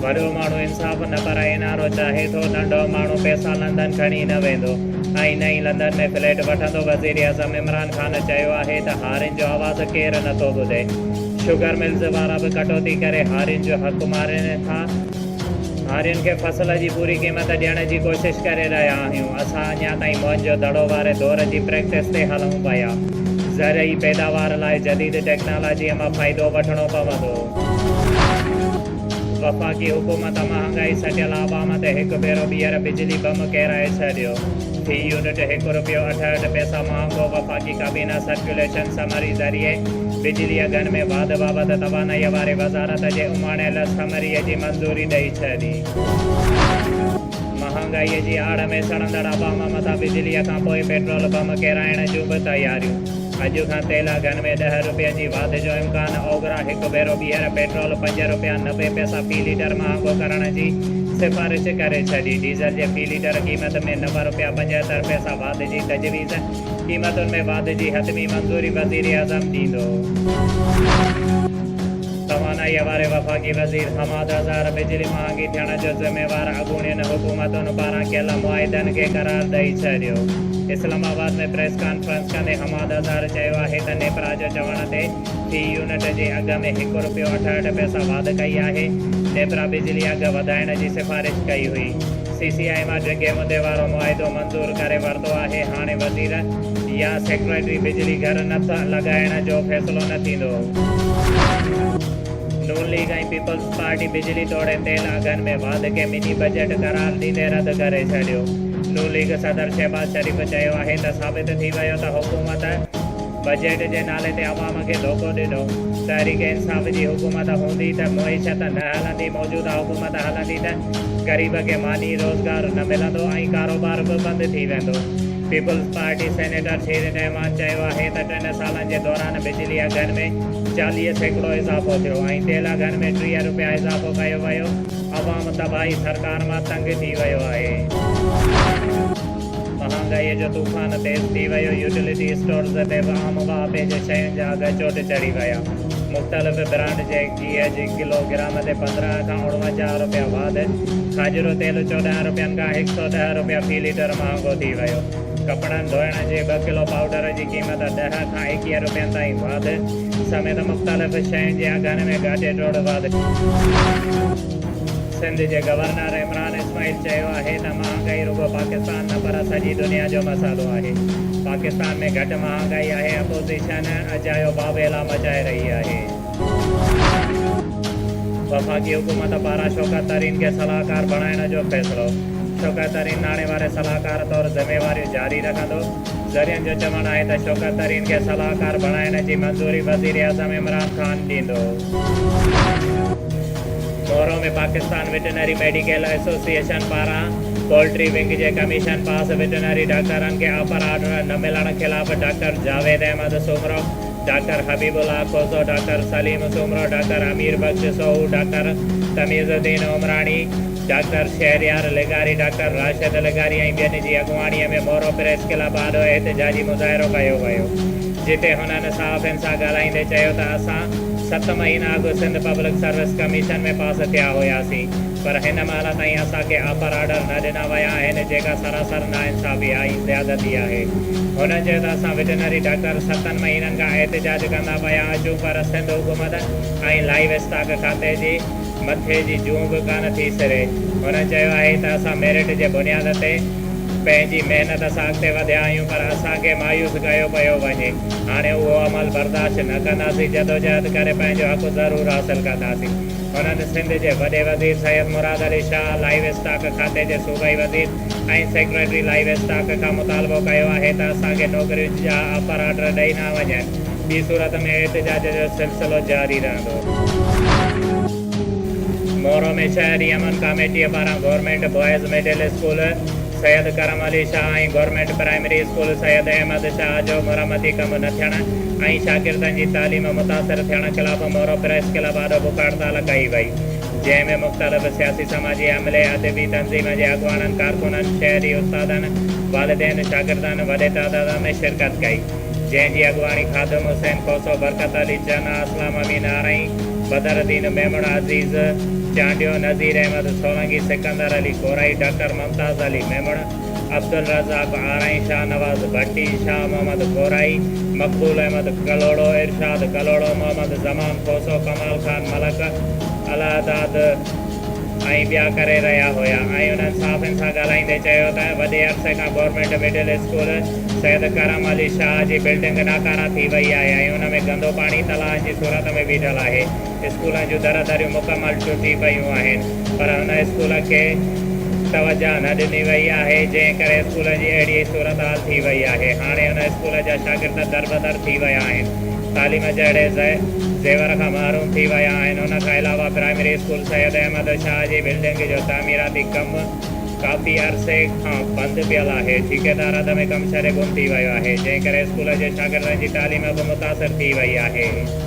وڏو ماڻهو انصاف نه پر اين آر او چاهي ٿو، ننڍو ماڻهو پئسا لندن کڻي نه ويندو ۽ نه ئي لندن ۾ فليٽ وٺندو، وزيراعظم عمران خان چيو آهي ته هارين جو آواز ڪير نه ٿو ٻڌي، شگر ملز وارا به ڪٽوتي ڪري هارين جو حق مارين ٿا، هارين کي فصل جي پوري قيمت ڏيڻ جي ڪوشش ڪري رهيا آهيون، اسان اڃا تائين موهن جو دڙو واري دور جي پريڪٽس تي هلون پيا، زرعي پيداوار لاء جديد ٽيڪنالاجيء مان فائدو وٺڻو پوندو. وفاقي حڪومت مهانگائي سٽيل عوام تي هڪ ڀيرو ٻيهر بجلي بم ڪيرائي ڇڏيو، في يونٽ هڪ رپيو اٺهٺ پئسا مهانگو، وفاقي ڪابينا سرڪيوليشن سمري ذريعي بجلي اگهن ۾ واڌ بابت توانائي واري وزارت جي اماڻيل سمري جي منظوري ڏئي ڇڏي. مهانگائي جي آڙ ۾ سڙندڙ عوام مٿان بجلي کانپوء پيٽرول بم ڪيرائڻ جون به تياريون. اڄ کان تيل اگهن ۾ ڏهه رپين جي واڌ جو امڪان، اوگرا هڪ ڀيرو ٻيهر پيٽرول پنج رپيا نوي پئسا في ليٽر مهانگو ڪرڻ جي سفارش ڪري ڇڏي، ڊيزل جي في ليٽر قيمت ۾ نو رپيا پنجهتر پئسا واڌ جي تجويز، قيمتن ۾ واڌ جي حتمي منظوري وزيراعظم ڏيندو. توانائيء واري وفاقي وزير حماد اظهر بجلي مهانگي ٿيڻ جو ذميوار اڳوڻين حڪومتن پاران ڪيل معاهدن کي قرار ڏئي ڇڏيو، اسلام آباد ۾ پريس ڪانفرنس. ڪندي حماد اظهر چيو آهي ته نيپرا جو چوڻ تي في يونٽ جي اگهه ۾ هڪ رپيو اٺهٺ پئسا واڌ ڪئي آهي، نيپرا بجلي اگهه وڌائڻ جي سفارش ڪئي هئي، سي سي آء مان ڊگهي مدي وارو معاهدو منظور ڪري ورتو آهي، هاڻي وزير يا سيڪريٽري بجلي گهر نه ٿا لڳائڻ جو فيصلو نه ٿيندو. نون ليگ ۽ پيپلز پارٽي بجلي توڙي تيل اگهن ۾ واڌ کي مني بجيٽ قرار ڏيندي رد ڪري ڇڏيو. ن ليگ صدر شهباز شريف چيو آهي ته ثابت ٿي ويو ته حڪومت بجيٽ جي نالي تي عوام کي ڌوڪو ڏنو، تحريڪ انصاف جي حڪومت هوندي ته معيشت نه هلندي، موجوده حڪومت هلندي ته غريب کي ماني، روزگار نه ملندو ۽ ڪاروبار به بند ٿي ويندو. پيپلز پارٽي سينيٽر ٿير رحمان چيو آهي ته ٽن سالن جي دوران بجلي اگهن ۾ چاليهه سيڪڙو اضافو ٿيو ۽ تيل اگهن ۾ ٽيهه رپيا اضافو ڪيو ويو، عوام تباهي سرڪار مان تنگ ٿي ويو آهي، مهانگائي جو طوفان تيز ٿي ويو، يوٽيلٽي اسٽورز تي به عام واهپي جي شين جا اگهه چوٽ چڙهي ويا، مختلف برانڊ جي گيهه جي ڪلو گرام تي پندرهن کان اڻونجاهه رپيا واڌ، کاڄرو تيل چوڏهن رپين کان هڪ سؤ ڏهه رپيا في ليٽر مهانگو ٿي ويو. ڪپڙن ڌوئڻ جي ٻه ڪلو پائوڊر جي قيمت ڏهه کان ايڪيهه روپين تائين واڌ سميت مختلف شين جي اگهن ۾ گهاٽي ٽوڙ واڌ سنڌ جي گورنر عمران اسماعيل چيو آهي ته مهانگائي رڳو پاڪستان نه پر سڄي دنيا جو مسئلو آهي پاڪستان ۾ گهٽ مهانگائي آهي اپوزيشن اجايو بابيلا مچائي رهي آهي. وفاقي حڪومت پاران شوڪت ترين کي صلاحڪار بڻائڻ جو فيصلو، شوڪت ترين ناڻي واري صلاحڪار طور ذميواريون جاري رکندو، ذريعن جو چوڻ آهي ته شوڪت ترين کي صلاحڪار بڻائڻ جي منظوري وزيراعظم عمران خان ڏيندو. Moro ۾ Pakistan veterinary medical association پاران پولٽري ونگ جي ڪميشن پاس وٽنري ڊاڪٽرن کي آفر آرڊر نه ملڻ خلاف doctor Javed Ahmed Soomro, doctor Habib Ullah Khoso, doctor Saleem Soomro, doctor Amir Bux Soho, doctor Tamiz Uddin Umrani, doctor Shehryar لغاري، ڊاڪٽر راشد لغاري ۽ ٻين جي اڳواڻي ۾ مورو پريس ڪلب آڏو احتجاجي مظاهرو ڪيو ويو جتي هنن صحافين سان ڳالهائيندي چيو ته اسان ست مهينا اڳ Sindh public service commission ۾ pass ٿيا هياسين پر هن مهل تائين اسان کي آفر آرڊر نه ڏنا ويا آهن جيڪا سراسر ناانصافي آهي زيادتي آهي هن چيو ته اسان وٽنري ڊاڪٽر ستن مهينن کان احتجاج ڪندا پيا اچون پر سنڌ حڪومت ۽ لائيو اسٽاڪ کاتي جي مٿي جي جون به ڪانه ٿي سري هن چيو آهي ته اسان ميرٽ جي بنياد تي پنهنجي محنت سان اڳتي وڌيا آهيون پر اسان کي مايوس ڪيو پيو وڃي هاڻي اهو عمل برداشت نه ڪنداسين جدوجهد ڪري پنهنجو حق ضرور حاصل ڪنداسين. هنن سنڌ جي وڏي وزير سيد مراد علي شاهه، لائيو اسٽاڪ کاتي جي صوبائي وزير ۽ سيڪريٽري لائيو اسٽاڪ کان مطالبو ڪيو آهي ته اسان کي نوڪرين جا آفر آرڊر ڏئي نه وڃن، ٻي صورت ۾ احتجاج جو سلسلو جاري رهندو. مورو ۾ شهري امن ڪاميٽيء پاران government boys middle school Syed Karam Ali Shah ۽ government primary school Syed Ahmed Shah جو مرمتي ڪم نه ٿيڻ ۽ شاگردن جي تعليم متاثر ٿيڻ خلاف مورو پريس ڪلب آڏو بک هڙتال ڪئي وئي جنهن ۾ مختلف سياسي سماجي عملي ادبي تنظيم جي اڳواڻن ڪارڪنن شهري استادن والدين شاگردن وڏي تعداد ۾ شرڪت ڪئي جنهن جي اڳواڻي خادم حسين کوسو برڪت علي چنا اسلام امين آرائين بدرالدين ميمڻ عزيز چانڊيو نظير احمد سولنگي سڪندر علي کورائي ڊاڪٽر ممتاز علي ميمڻ، عبدالرزاق آرائين، شاهنواز ڀٽي، شاهه محمد کورائي، مقبول احمد ڪلهوڙو، ارشاد ڪلهوڙو، محمد زمان کوسو، ڪمال خان ملڪ، الهداد ۽ ٻيا ڪري رهيا هيا ۽ انهن صحافين سان ڳالهائيندي چيو ته وڏي عرصي کان government middle school Syed Karam Ali Shah جي بلڊنگ ناڪاره ٿي وئي آهي ۽ ان ۾ گندو پاڻي تلاءن جي صورت ۾ بيٺل آهي. اسڪولن جون درا دريون مڪمل ٽٽي پيون آهن پر هن اسڪول کي توجهه نه ڏني وئي آهي جنهن ڪري اسڪول جي اهڙي ئي صورتحال ٿي وئي آهي هاڻي هن اسڪول جا شاگرد دربدر ٿي ويا آهن تعليم جهڙي زيور کان محروم ٿي ويا آهن ان کان علاوه پرائمري اسڪول سيد احمد شاهه جي بلڊنگ جو تعميراتي ڪم ڪافي عرصي کان بند پيل آهي ٺيڪيدار اڌ ۾ ڪم ڇڏي گم ٿي ويو آهي جنهن ڪري اسڪول جي شاگردن جي تعليم به متاثر ٿي وئي آهي.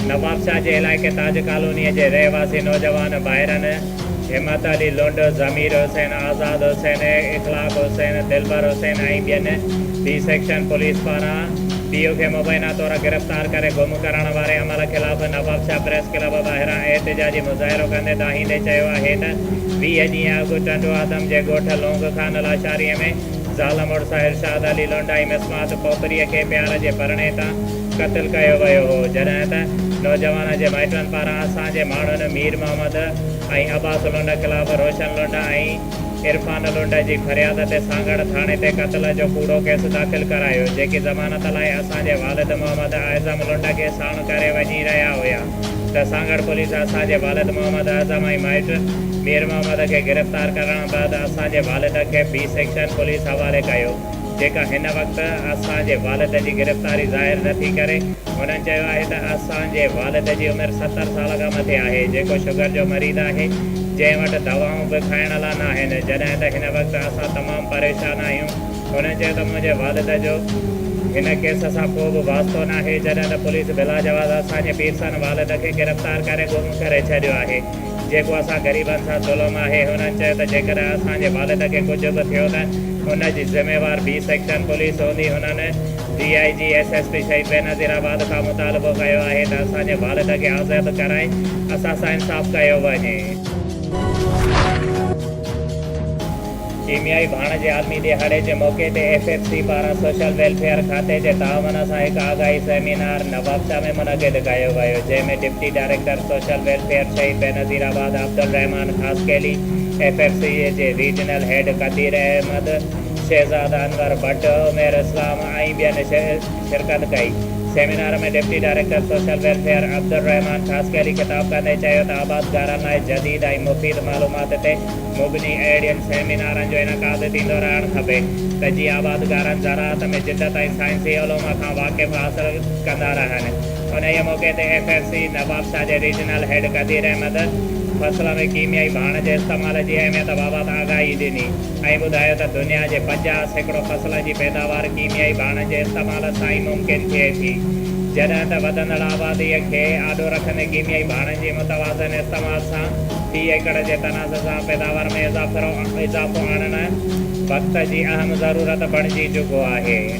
نوابشاهه جي علائقي تاج ڪالونيء جي رهواسي نوجوان ڀائرن همت علي لنڊ، ضمير حسين، آزاد حسين، اخلاق حسين، دلبر حسين ۽ ٻين بي سيڪشن پوليس پاران پيء کي مبينا طور گرفتار ڪري گم ڪرڻ واري عمل خلاف نوابشاهه پريس ڪلب ٻاهران احتجاجي مظاهرو ڪندي دانهيندي چيو آهي ته ويهه ڏينهن اڳ ٽنڊوآدم جي ڳوٺ لونگ خان لاشاريء ۾ زال مڙس ارشاد علي لونڊائي مسمات کوپريء کي پيار جي پرڻي تان قتل ڪيو ويو هو، جڏهن ته نوجوان جي مائٽن پاران اسان جي ماڻهن مير محمد ۽ عباس لونڊ خلاف روشن لونڊ ۽ عرفان لونڊ جي فرياد تي سانگهڙ ٿاڻي تي قتل جو ڪوڙو ڪيس داخل ڪرايو، جيڪي ضمانت لاء اسان جي والد محمد اعظم لونڊ کي ساڻ ڪري وڃي رهيا هيا. ته سانگهڙ پوليس اسان جي والد محمد اعظم ۽ مائٽ مير محمد کي گرفتار ڪرڻ بعد اسان جي والد کي بي سيڪشن پوليس حوالي ڪيو جيڪا هن وقت اسان جي والد جي گرفتاري ظاهر نه ٿي ڪري هنن چيو آهي ته اسان جي والد جي عمر ستر سال کان مٿي آهي جيڪو شگر جو مريض آهي جنهن وٽ دوائون به کائڻ لا ناهن جڏهن ته هن وقت اسان تمام پريشان آهيون. هن چيو ته منهنجي والد جو هن ڪيس سان ڪو به واسطو ناهي، جڏهن ته پوليس بلاجواز اسان جي پيرسن والد کي گرفتار ڪري گم ڪري ڇڏيو آهي، جيڪو اسان غريبن سان ظلم آهي، هنن چيو ته جيڪڏهن اسان جي والد کي ڪجهه به ٿيو ته ان جي ذميوار بي سيڪشن پوليس هوندي، هنن D I G S S P Shaheed Benazir آباد کان مطالبو ڪيو آهي ته اسان جي والد کي آزاد ڪرائي اسان سان انصاف ڪيو وڃي. ڪيميائي ڀاڻ جي عالمي ڏهاڙي جي موقعي تي ايف ايف سي پاران سوشل ويلفيئر کاتي جي تعاون سان هڪ آگاهي سيمينار نوابشاهه ۾ منعقد ڪيو ويو جنهن ۾ deputy director social welfare Shaheed Benazirabad Abdulrahman Khaskheli, F F C جي ريجنل هيڊ قدير احمد، شهزاد انور ڀٽ، عمير اسلام ۽ ٻين شرڪت ڪئي. Seminar ۾ deputy director social welfare Abdulrahman Khaskheli خطاب ڪندي چيو ته آبادگارن لاء جديد ۽ مفيد معلومات تي مبني اهڙين سيمينارن جو انعقاد ٿيندو رهڻ کپي ته جي آبادگارن زراعت ۾ جدت ۽ سائنسي علوم کان واقف حاصل ڪندا رهن انهيء موقعي تي ايف ايف سي نوابشاهه جي ريجنل هيڊ قدير احمد فصل ۾ ڪيميائي ڀاڻ جي استعمال جي اهميت بابت آگاهي ڏني ۽ ٻڌايو ته دنيا جي پنجاهه سيڪڙو فصلن جي پيداوار ڪيميائي ڀاڻن جي استعمال سان ئي ممڪن ٿئي ٿي جڏهن ته وڌندڙ آبادي کي آڏو رکندي ڪيميائي ڀاڻن جي متوازن استعمال سان في ايڪڙ جي تناسب سان پيداوار ۾ اضافو آڻڻ وقت جي اهم ضرورت بڻجي چڪو آهي.